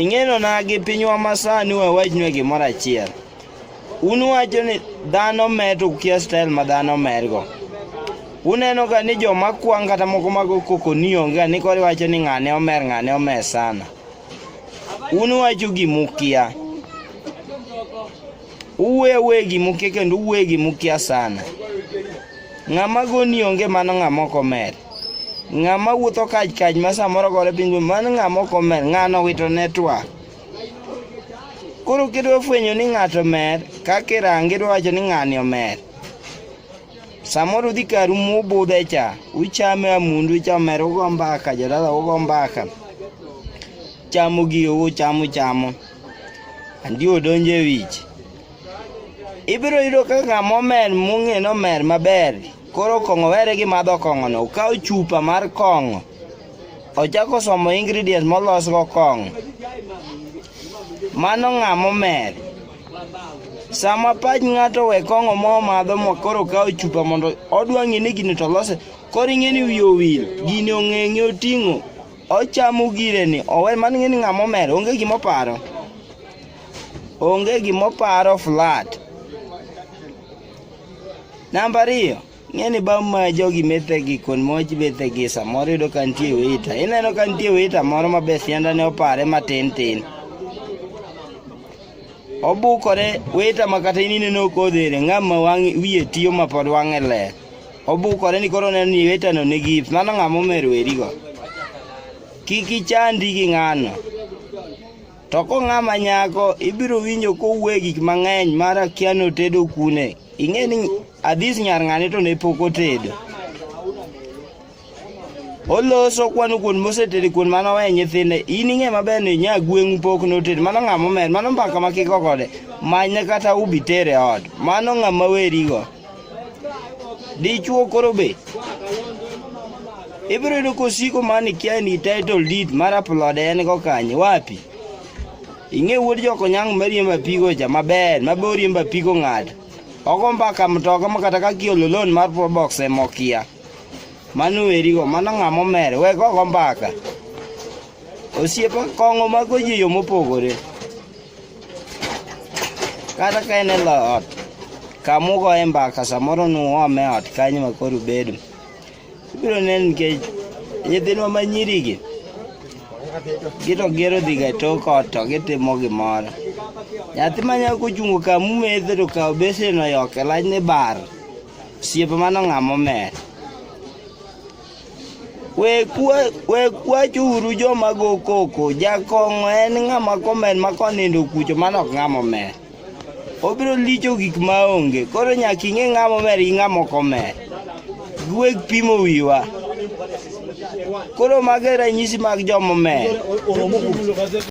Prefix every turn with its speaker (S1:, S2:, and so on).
S1: Ing'eno na gi pinywa masani wawachnue gimoro achiel. Un wacho ni dhano mer to ukia style ma dhano mergo. Uneno ga ni joma kwang' kata moko mago koko ni onge ga ni koro iwacho ni ng'ane omer ng'ane omer sana. Un wacho gimukia. Uwe uwe gi mukia kendo uwe gi mukia sana. Ng'ama goni onge mano ng'ama ok omer. Ng'ama wuotho kaj kaj ma samoro gore piny mano ng'ama ok omer, ng'ano wito network. Koro kidwa fwenyo ni ng'ato mer, kaka irange idwa wacho ni ng'ani omer. Samoro udhi karu mubudhe cha, uchame amundu cha omer ugo mbaka, jodala ugo mbaka. Chamo gio uchamo chamo. Andi odonje wich. Ibiro yudo ka ng'ama omer mung'e nomer maber. Koro kong'o were gi madho kong'ono. Okaw chupa mar kong'o. Ochako somo ingredients molosgo kong'o. Mano ng'ama omer. Sama pach ng'ato we kong'o mo madho mo koro kawo chupa mondo odwa ng'e ni gini to lose koro ing'e ni wiye owil gini ong'eng'e oting'o Ochamo gireni, owe man ng'e ni ng'ama omer, onge gima oparo. Onge gima oparo flat. Namba ariyo, ng'e ni bang' ma jogi methegi kon moj bethegi samoro yudo ka nitie wita. Ineno ka nitie wita moro ma be sianda ne opare matin tin. Obukore wita ma kata in ineno kodhere ng'ama wang' wiye tiyo ma pod wang'e ler. Obukore ni koro neno ni wetano ne gift. Mano ng'a momer werigo. Kik ichandi gi ng'ano. To ko ng'ama nyako ibiro winjo kowuoye gik mang'eny mar akia notedo kune. Ing'e ni adhis nyar ng'ane to ne pok otedo. Oloso kwano kuon mosetedo kuon mano we nyithinde. In ing'e maber ni nya gweng'u pok notedo. Mano ng'ama omer. Mano mbaka ma kiko kode. Manye kata ubi tere ot. Mano ng'ama werigo. Dichuo koro be. Ibiro yudo kosiko mani kia ni title deed mar upload en go kanye wapi? Ing'e wuod joko nyang' mariemba pigo cha maber ma bori mba pigo ng'ato. Ogo mbaka mtoka ma kata ka kiolo loan mar probox e mokia. Manu erigo mano ng'amo mere we go mbaka. Osiepa kong'o mago ji yo mopogore. Kata ka en e ot, kamugoye mbaka samoro nuome ot kanyo ma koro ubedo. Ibiro neno nikech nyithindwa ma nyirigi gito gero dhiga e tok ot to gitimo gimoro. Nyathi ma nyako ochungo kamumethe to kawo besen oyoke lachne bar, osiepe mano ng'ama omer. Wekwachuru joma go koko, jakong'o en ng'ama komen ma konindo kucho mano ok ng'ama omer. Obiro licho gik ma onge, koro nyaka ing'e ng'ama omer gi ng'ama ok omer. Giweg pimo wiwa. Koro mage ranyisi mag joma omer.